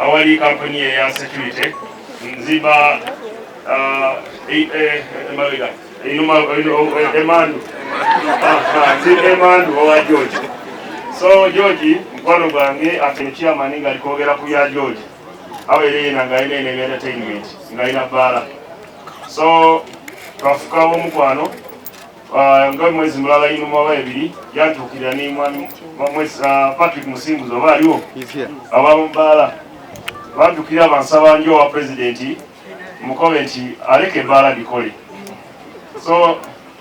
awali kampuni eya security nzimba emabega emandu emandu owa george so george mukwano gwange atino chairman nga alikwogera ku bya george abeera yena nga alina ene entertainment nga alina baala so twafukawo omukwano Ah, nga mwezi mulala yino mwaba ebiri yatuukirira ne mwami mwezi ah, Patrick Musinguzi oba aliwo abamubbaala batukira bansaba njo wa pulezidenti mukobe nti aleka ebbaala likole so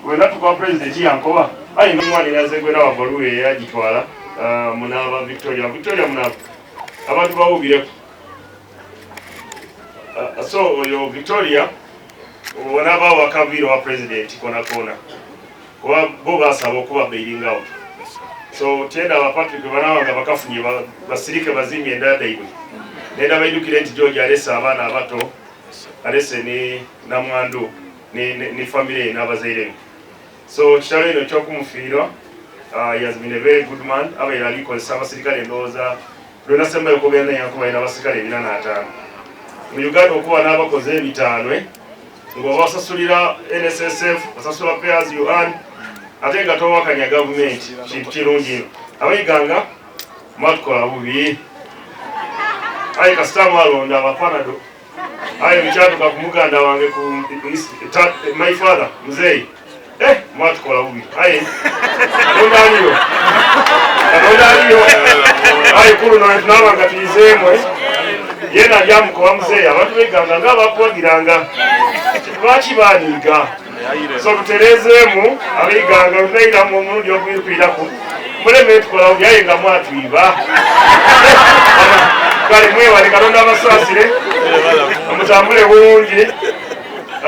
wena tukuwa pulezidenti yankoba ayi nomwana eyaze gwena wabaluwa eyagitwala ah, munaaba victoria victoria munaaba abantu bawubireko Uh, so oyo Victoria olaba wakaviira wa president kona kona kuba bo basaba okuba bailingawo so tyenda abapatrick banawa nga bakafunye basirike bazimye endada ibwe nenda baidukire nti george alese abaana abato alese ne namwandu ne famire ye n'abazairebe so kitalo eno ekyokumufiirwa uh, he has been a very good man abaire alikozesa abasirikale endowooza Lwena Semba Yakobo Yana Yakobo Yina Basikale Bina Na Atano Mu Uganda Okuwa Na Abakoze Ebitanwe Ngo Wasasulira NSSF Wasasula Payers You Earn Ate Nga Towa Kanya Government Chintu Chirungi Awe Ganga Matukola Bubi Aika Stamu Alonda Wapana Do aye bikyatuka ku muganda wange ku my father muzeeyi eh, mwatukola bubi aye katonda aliyo katonda aliyo aye kulu nabanga tuyizeemwe yena lyamukowa muzeeyi abantu beganga nga bakuwagiranga lwaki baniiga so tutereezeemu abaiganga lutayiramu omulundi okuyikuyiraku muleme tukolawo byaye nga mwatwiba kale mwewale kalonda abasaasire mutambule bulungi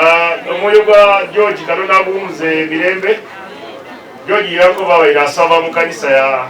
ah, omwoyo gwa george kalonda aguwumuze mirembe george yankobawaire asaba mu kanisa ya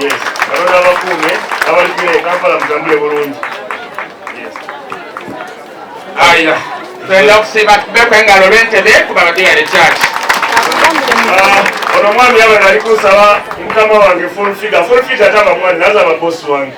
Yes. Katonda abakuume abalikira e Kampala mutambule bulungi. Yes. Aya. Twenda okusiiba tubeko engalo lwentebe kuba abadde yali kyaki. Ah, ono omwami yabadde ali kunsaba mukama wange full figure. Full figure ataba mwani naza ababosi wange.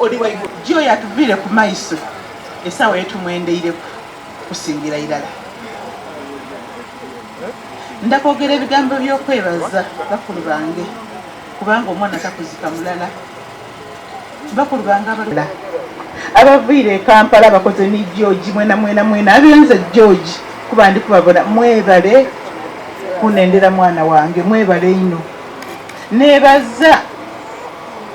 oli waigulu gyoyo atuvire ku maiso esawa yetumwendeireku kusingira irala ndakwogera ebigambo byokwebaza bakulu bange kubanga omwana takuzika mulala bakulu bange abalala abaviire ekampala bakoze ni george mwena mwena mwena abenze george kuba ndi kubabona mwebale kunendera mwana wange mwebale ino nebaza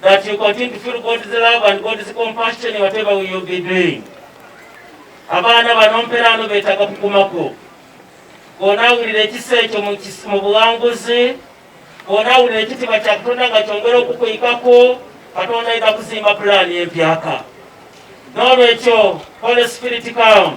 that you continue to feel God's love and God's compassion whatever we will be doing. Abaana bano mperaano beetaga kukumako bw'onaawulira ekisa ekyo mu buwanguzi bw'onaawulira ekitiibwa kya katonda nga kyongera okukuyikako katonda ayinza kuzimba pulaani empyaka n'olwekyo holy spirit come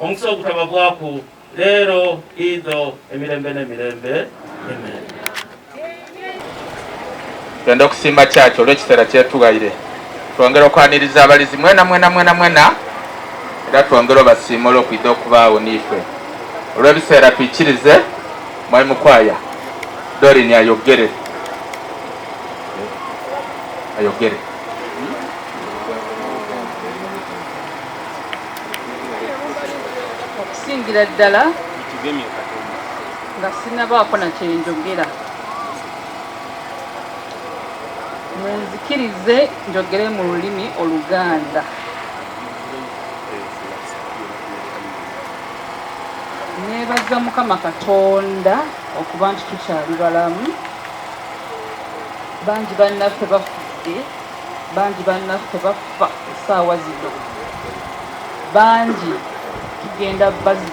omukisa ogutaba bwaku leero idho emirembe n'emirembe amen genda okusiima kyaki olw'ekiseera kyetuwaire twongera okwaniriza abalizi mwena mwena mwena mwena era twongere obasiima olwokwidde okubaawo niife olw'ebiseera tuikirize mwai mukwaya dorini ayogere ayogere okusingira ddala nga sinabaako na kyenjogera munzikirize njogere mu lulimi oluganda nebaza mukama katonda okuba nti tukyali balamu bangi bannaffe bafudde Bangi bannaffe baffa essaawa zino, bangi tugenda baziika.